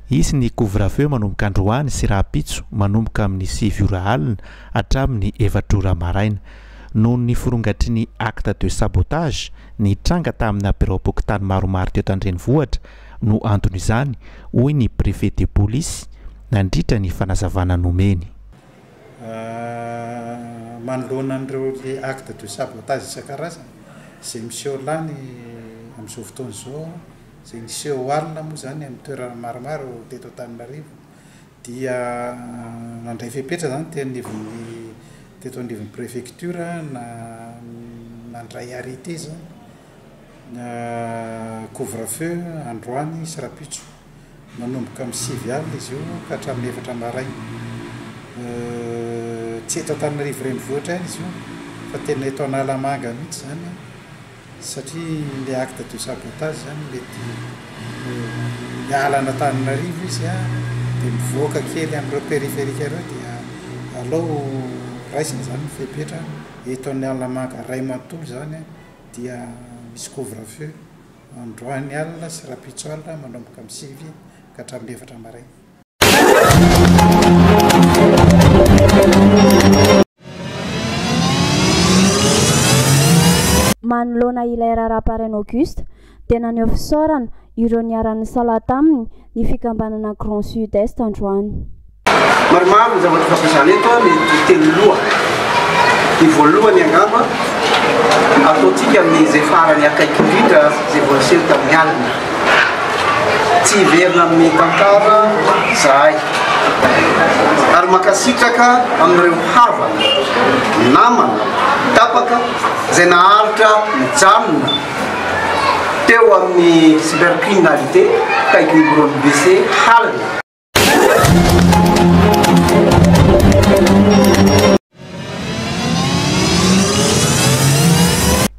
Hisy ny couvre-feu manomboka androany sy rahampitso manomboka amin'ny sivy ora alina hatramin'ny efatra ora maraina. Noho ny firongatry ny acte de sabotage nitranga tamina biraom-pokontany maromaro teto an-drenivohitra no anton'izany, hoy ny préfet de polisy nandritra ny fanazavana nomeny. manoloana an'ireo actes de sabotage isan-karazany izay miseho lany amin'izao fotoana izao, izay niseho alina moa izany amin'ny toerana maromaro teto Antananarivo dia nandray fepetra izany teo anivon'ny teto anivon'ny préfecture na nandray arrêté izany. Couvre feu androany sy rapitso. Manomboka amin'ny sivy alina izy io ka hatramin'ny efatra maraina. Tsy eto Antananarivo renivohitra ihany izy io fa tena eto Analamanga mihitsy izany satria ilay acte de sabotage izany mety miala an'Antananarivo izy dia mivoaka kely amin'ireo périphérique ireo dia aleo raisina izany ny fepetra eto Analamanga iray manontolo izany dia misy couvre-feu androany alina sy rahampitso alina manomboka amin'ny sivy ka hatramin'ny efatra maraina. Manoloana ilay raharaha Parain'Auguste, dia naneho fisaorana ireo niara-nisalahy taminy ny fikambanana Grand Sud Est androany. Maromaro ny zavatra fampiasana eto an, ny telo loha. Ny voalohany angamba, ataontsika amin'izay farany akaiky indrindra izay vao niseho tamin'ny alina. Tsy hiverina amin'ny tantara izahay. Ary mankasitraka amin'ireo havana, namana, tapaka izay naharitra nijanona. Teo amin'ny cybercriminalité akaiky ny biraon'ny BC halina.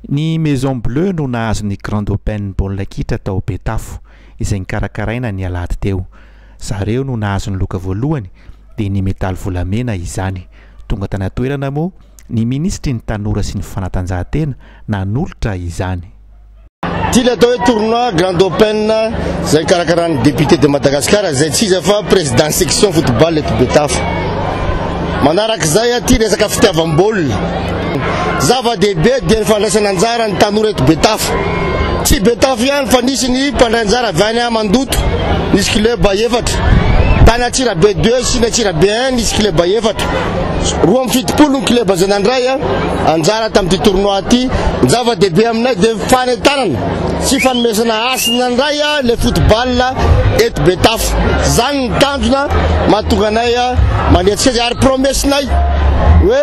Ny Maison Bleue no nahazo ny Grand Open baolina kitra tao Betafo izay nikarakaraina ny alahady teo. Zareo no nahazo ny loka voalohany dia ny medaly volamena izany. Tonga tany an-toerana moa Ny minisitry ny Tanora sy ny fanatanjahantena nanolotra izany. Ity ilay atao hoe tournoi grand open izay karakarain'ny député de Madagascar izay tsy iza fa président section football eto Betafo. Manaraka izay ity resaka fitiavam-baolina. Zava-dehibe dia ny fandraisana anjara ny tanora eto Betafo. Tsy Betafo ihany fa nisy ny mpandray anjara avy any Mandoto, nisy club efatra. Tany Antsirabe deux sy ny Antsirabe un nisy club efatra. Roa amby fitopolo ny kleba izay nandray anjara tamin'ity tournoi ity. Ny zava-dehibe aminay dia fanentanana sy fanomezana hasina indray ilay football eto Betafo. Izany ny tanjona mahatonga anay manetsiketsika ary promesse-nay hoe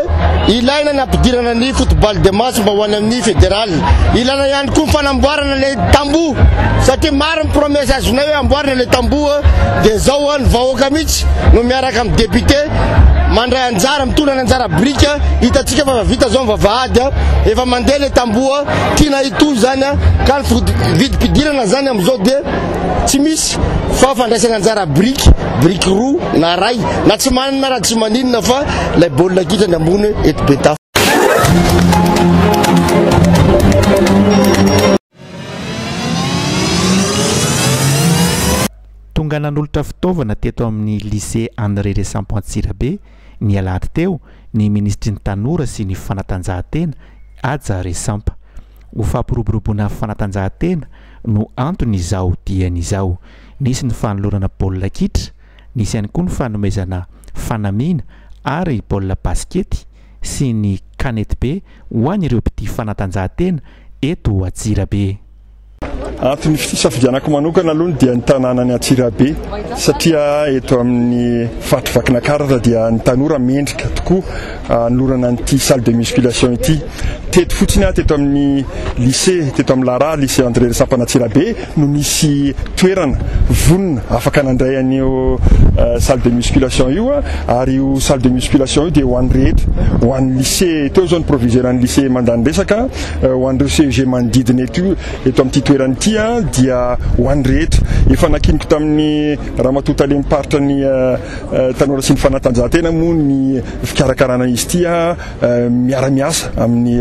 ilaina ny ampidirana ny football de match mba ho any amin'ny fédéral. Ilaina ihany koa ny fanamboarana ilay tamboho satria maro ny promesse azonay hoe amboarina ilay tamboho dia izao ny vahoaka mihitsy no miara Miaraka amin'ny Député mandray anjara, mitondra ny anjara birika, hitantsika fa efa vita izao ny vavahady, efa mandeha ilay tamboho, tiana hitohy izany ka ny vidim-pidirana izany amin'izao dia tsy misy fa fandraisana anjara biriky, biriky roa na iray na tsy manana raha tsy maninona fa ilay baolina kitra ny ambony eto Betafo. Tonga nanolotra fitaovana teto amin'ny Lycée André Resampo Antsirabe, ny alahady teo, ny minisitry ny Tanora sy ny fanatanjahantena, Haja Resampa. Ho fampiroboroboana fanatanjahantena no antony izao diany izao. Nisy ny fanolorana baolina kitra, nisy ihany koa ny fanomezana fanamiana ary baolina basikety. sy ny kanetibe ho an'ireo mpitia fanatanjahantena eto Antsirabe. Anaty ny fisafidianako manokana aloha dia ny tanànan'i Antsirabe satria eto amin'ny faritry Vakinakaratra dia ny tanora mendrika tokoa hanolorana an'ity salle de musculation ity. Teto fotsiny aho teto amin'ny lycée, teto amin'ny Lara, lycée André Rasampanantsirabe. no misy toerana vonona afaka nandray an'io salle de musculation io ary io salle de musculation io dia ho an'ny rehetra ho an'ny lycée teo izao ny proviseran'ny lycée mandany resaka ho an'ireo CEG manodidina eto eto amin'ity toerana ity dia ho an'ny rehetra efa nakiniko tamin'ny ramatoa talen'ny paritra ny tanora sy ny fanatanjahantena moa ny fikarakarana izy ity miara-miasa amin'ny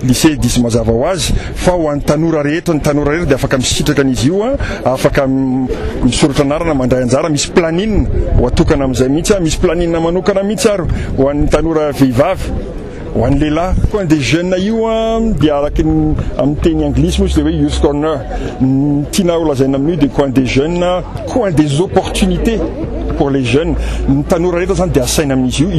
Lycée diso mazava ho azy fa ho an'ny tanora rehetra, ny tanora rehetra dia afaka misitraka an'izy io, afaka misoratra anarana, mandray anjara, misy planine ho atokana amin'izay mihitsy, misy planine manokana mihitsy ary ho an'ny tanora vehivavy, ho an'ny lehilahy. Ny coin des jeunes io dia araka ny amin'ny teny anglisy moa izy dia hoe youth corner, ny tiana holazaina amin'io dia coin des jeunes, coin des opportunités. Pour les jeunes, ny tanora rehetra zany dia asaina amin'izy io.